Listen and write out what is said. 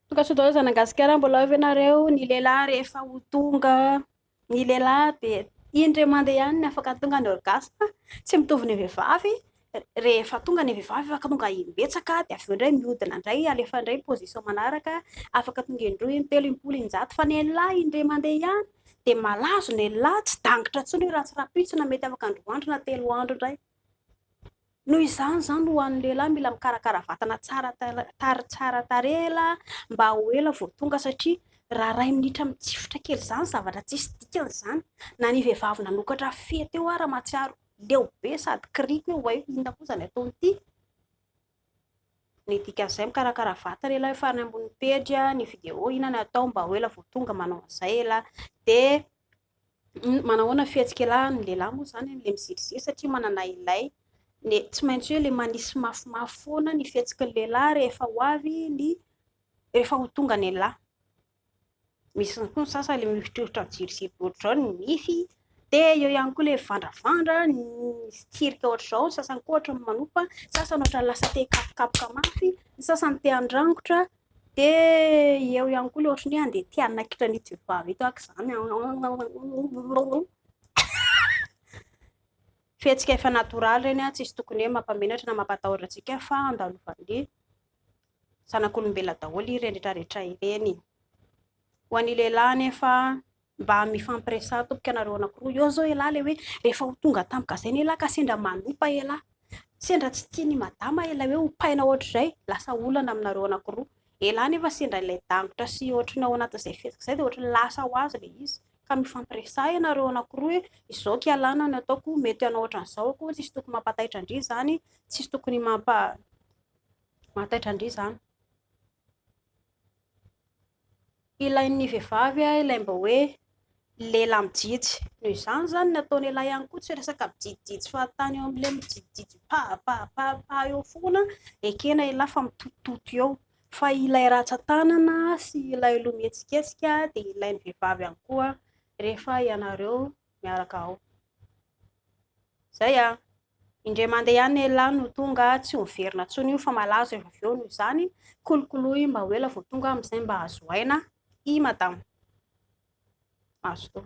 Tonga soa daholo Zanagasikara, mbola ao ve nareo? Ny lehilahy rehefa ho tonga, ny lehilahy de indray mande ihany ny afaka tonga ny orgasme, tsy mitovy ny vehivavy, rehefa tonga ny vehivavy afaka tonga imbetsaka de avy eo ndray mihodina ndray alefa ndray ny position manaraka, afaka tonga indroa, intelo, impolo, injato, fa ny lehilahy indray mande ihany, de malazo ny lehilahy, tsy dangitra tsony io raha tsy rahampitso na mety afaka androandro na telo andro ndray. Noho izany izany ho an'ny lehilahy mila mikarakara vatana tsara tary tsara tarehy la mba ho ela vao tonga satria raha ray minitra mitsifitra kely izany zavatra tsisy dikany izany na ny vehivavy nanokatra fehy teo ara matsiaro leo be sady kiriko hoe way inona koa izany ataony ity ny dikan'izay mikarakara vatana lehilahy efa any ambony pejy ny video inona ny atao mba ho ela vao tonga manao an'izay lehilahy dia Manahoana fihetsikelahy ny lehilahy moa izany amin'ilay miziriziry satria manana ilay ny tsy maintsy hoe ilay manisy mafimafy foana ny fihetsiky ny lehilahy rehefa ho avy ny rehefa ho tonga ny an'lah. Misy ihany koa ny sasany ilay mihotrotra miziriziry be ohatr'izao ny nify, dia eo ihany koa ilay mivandravandra, ny tsirika ohatr'izao, ny sasany koa ohatran'ny manopa, ny sasany ohatran'ny lasa te-hikapokapoka mafy, ny sasany te-handrangotra. Dia eo ihany koa ilay ohatran'ny hoe handeha te hanaikitra an'ito vehivavy ito aho aoka izany. Fihetsika efa natoraly ireny, tsisy tokony hoe mampamenatra na mampatahotra antsika fa andalovan'ny zanak'olombelona daholo ireny rehetrarehetra ireny. Ho an'ny lehilahy anefa. Mba mifampiresaha tompoko ianareo anankiroa. Eo zao elah le hoe rehefa ho tonga tampoka zay ny elah ka sendra manopa elah. Sendra tsy tia ny madama ilay hoe hopaina ohatr'izay, lasa olana aminareo anankiroa. Elah nefa sendra ilay dangotra sy ohatry ny ao anatin'izay fihetsika izay dia ohatry ny lasa ho azy le izy. Ka mifampiresaha ianareo anankiroa hoe izao aky alana no ataoko, mety hanao ohatran'izao akoho, tsisy tokony mampataitra an-dry izany, tsisy tokony mampa mataitra an-dry izany. Ilain'ny vehivavy ilay mba hoe lela mijijy. Noho izany izany ny ataon'ialahy ihany koa tsy resaka mijijijy fahatany eo amin'ilay mijijijy pahapahapahapa eo foana ekena ialahy fa mitotototo eo. Fa ilay ratsan-tanana sy ilay loha mihetsiketsika dia ilain'ny vehivavy ihany koa rehefa ianareo miaraka ao. Izay an! Indray mandeha ihany elah no tonga, tsy ho miverina intsony io fa malazo avy eo noho izany, kolokoloy mba ho ela vao tonga amin'izay mba azo aina i madama. Mazotoa.